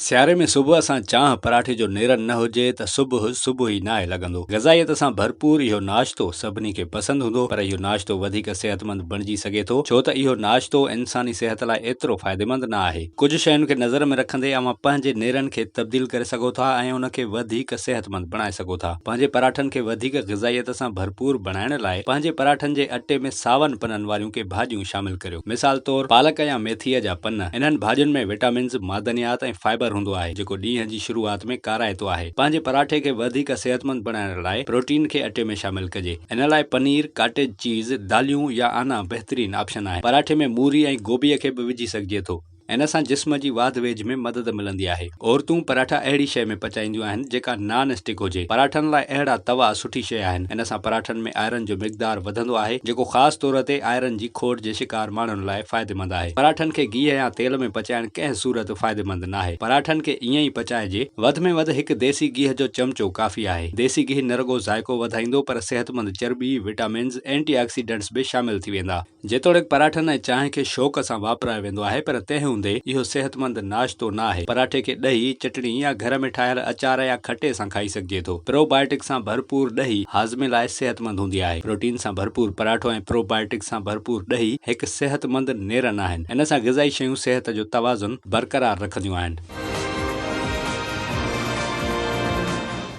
سياري ۾ صبح سان چانهه پراٺي جو نيرن نه هجي ته صبح صبح ئي ناهي لڳندو. غذائيت سان ڀرپور اهو ناشتو سڀني کي پسند هوندو پر اهو ناشتو وڌيڪ صحتمند بڻجي سگهي ٿو ڇو ته اهو ناشتو انساني صحت لاء ايترو فائديمند نه آهي. ڪجهه شين کي نظر ۾ رکندي اوهان پنهنجي نيرن کي تبديل ڪري سگهو ٿا ۽ ان کي وڌيڪ صحتمند بڻائي سگهو ٿا. پنهنجي پراٺن کي وڌيڪ غذائيت سان ڀرپور بڻائڻ لاء پنهنجي پراٺن جي اٽي ۾ ساون پنن واريون ڪي ڀاڄيون شامل ڪريو. مثال طور پالڪ يا ميٿيء جا پن، انهن ڀاڄين ۾ وٽامنز، معدنيات ۽ فائبر هوندو آهي، جيڪو ڏينهن جي شروعات ۾ ڪارائتو آهي. پنهنجي پراٺي کي وڌيڪ صحتمند بڻائڻ لاء پروٽين کي اٽي ۾ شامل ڪجي. ان لاء پنير، ڪاٽيج چيز، داليون يا آنا بهترين آپشن آهن. پراٺي ۾ موري ۽ گوبيء کي به وجهي سگهجي ٿو. ان سان جسم جي واڌ ويجهه ۾ مدد ملندي آهي. عورتون پراٺا اهڙي شيء ۾ پچائينديون آهن جيڪا نان اسٽڪ هجي. پراٺن لاء اهڙا توا سٺي شيء آهن. ان سان پراٺن ۾ آئرن جو مقدار وڌندو آهي جيڪو خاص طور تي آئرن جي کوٽ جي شڪار ماڻهن لاء فائديمند آهي. پراٺن کي گيهه يا تيل ۾ پچائڻ ڪنهن صورت فائديمند ناهي. پراٺن کي ائين ئي پچائجي. وڌ ۾ وڌ هڪ ديسي گيهه جو چمچو ڪافي آهي. ديسي گيهه نه رڳو ذائقو وڌائيندو پر صحتمند چرٻي، وٽامنز، اينٽي آڪسيڊنٽس به شامل ٿي ويندا. جيتوڻيڪ پراٺن ۽ چانهه کي شوق سان واپرايو ويندو آهي پر تنهن هوندي اهو صحتمند ناشتو نه آهي. پراٺي کي ڏهي، چٽڻي يا گهر ۾ ٺاهيل اچار يا کٽي سان کائي سگهجي ٿو. پرو بائيوٽڪ سان ڀرپور ڏهي هاضمي لاء صحتمند هوندي آهي. پروٽين سان ڀرپور پراٺو ۽ پرو بائيوٽڪ سان ڀرپور ڏهي هڪ صحتمند نيرن آهن. ان سان غذائي شيون صحت جو توازن برقرار رکنديون آهن.